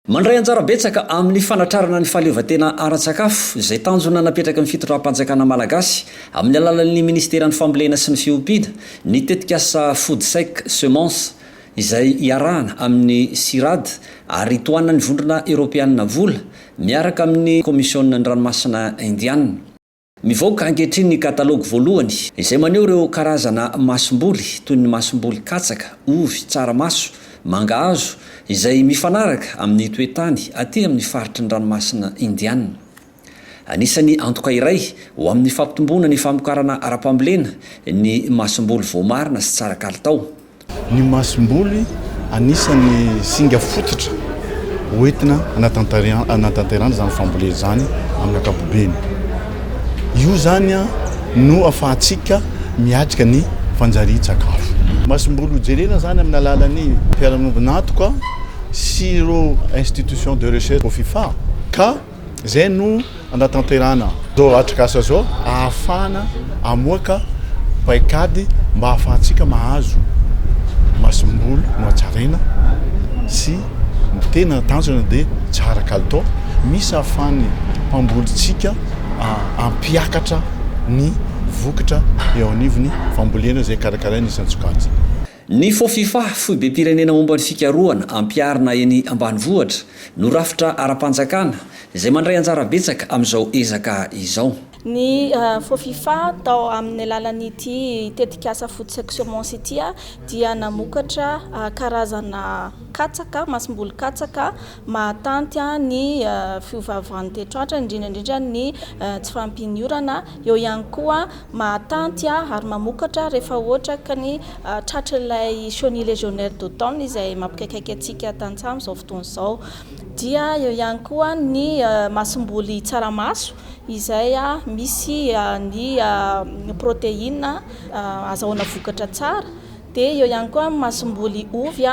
Mandray anjara betsaka amin'ny fanatrarana ny fahaleovantena ara-tsakafo, izay tanjona napetraky ny fitondram-panjakana malagasy amin'ny alalan'ny minisiteran'ny Fambolena sy ny Fiompiana, ny tetikasa Foodsec Semences, izay iarahana amin'ny CIRAD ary tohanan'ny Vondrona Eoropeanina vola, Miaraka amin'ny Komisionin'ny Ranomasina Indiana. Mivoaka ankehitriny ny katalogy voalohany, izay maneho ireo karazana masomboly toy ny masomboly katsaka, ovy, tsaramaso, mangahazo, izay mifanaraka amin'ny toe-tany aty amin'ny faritry ny Ranomasina Indiana. Anisan'ny antoka iray ho amin'ny fampitomboana ny famokarana ara-pambolena ny masomboly voamarina sy tsara kalitao. Ny masomboly, anisan'ny singa fototra hoentina hanatanterahana izany fambolena izany amin'ny ankapobeny. Io izany no afahantsika miatrika ny fanjarian-tsakafo. Masomboly hojerena izany amin'ny alalan'ny fiarahamonina antoka sy ireo institutions de recherche ao Fifa ka Izay no anatanterahana izao atrikasa izao ahafahana hamoaka paikady mba ahafahantsika mahazo masomboly nohatsaraina sy ny tena tanjona dia tsara kalitao misy ahafahan'ny mpambolintsika hampiakatra ny vokatra eo anivon'ny fambolena izay karakaraina isan-tsokajiny. Ny Fofifa, Foibem-pirenena Momba ny Fikarohana Ampiharina eny Ambanivohitra, no rafitra ara-panjakana izay mandray anjara betsaka amin'izao ezaka izao. Ny Fofifa, tao amin'ny alalan'ity tetikasa Food Securements ity, dia namokatra karazana katsaka, masomboly katsaka, mahatanty ny fiovaovan'ny toetr'andro, indrindra indrindra ny tsy fahampian'ny-orana, eo ihany koa mahatanty ary mamokatra rehefa ohatra ka ny tratr'ilay chenille légionnaire d'automne izay mampikaikaika antsika tantsaha amin'izao fotoana izao, dia eo ihany koa ny masomboly tsaramaso izay misy ny protéine azahoana vokatra tsara, dia eo ihany koa ny masomboly ovy.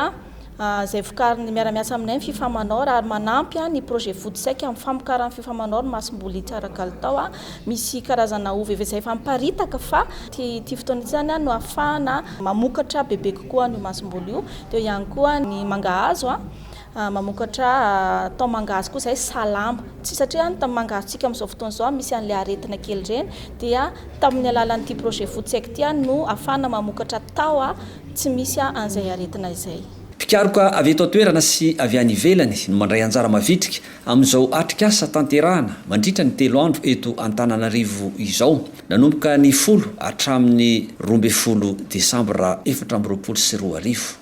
izay vokarin'ny miara-miasa aminay ny fifa Manor ary manampy ny projet Vody Saika amin'ny famokaran'ny fifa Manor ny masomboly hitsara kalitao. Misy karazana ovy efa izay efa miparitaka fa ity fotoana ity izany no ahafahana mamokatra bebe kokoa an'io masomboly io. Teo ihany koa ny mangahazo, mamokatra thon mangahazo koa izay salama. Tsy satria ny mangahazotsika amin'izao fotoana izao misy an'ilay aretina kely ireny dia tamin'ny alalan'ity projet Vody Saika ity no ahafahana mamokatra thon. Tsy misy an'izay aretina izay. Mpikaroka avy eto an-toerana sy avy any ivelany no mandray anjara mavitrika amin'izao atrikasa tanterahana mandritra ny telo andro eto Antananarivo izao, nanomboka ny folo hatramin'ny roa ambin'ny folo desambra efatra amby roapolo sy roa arivo.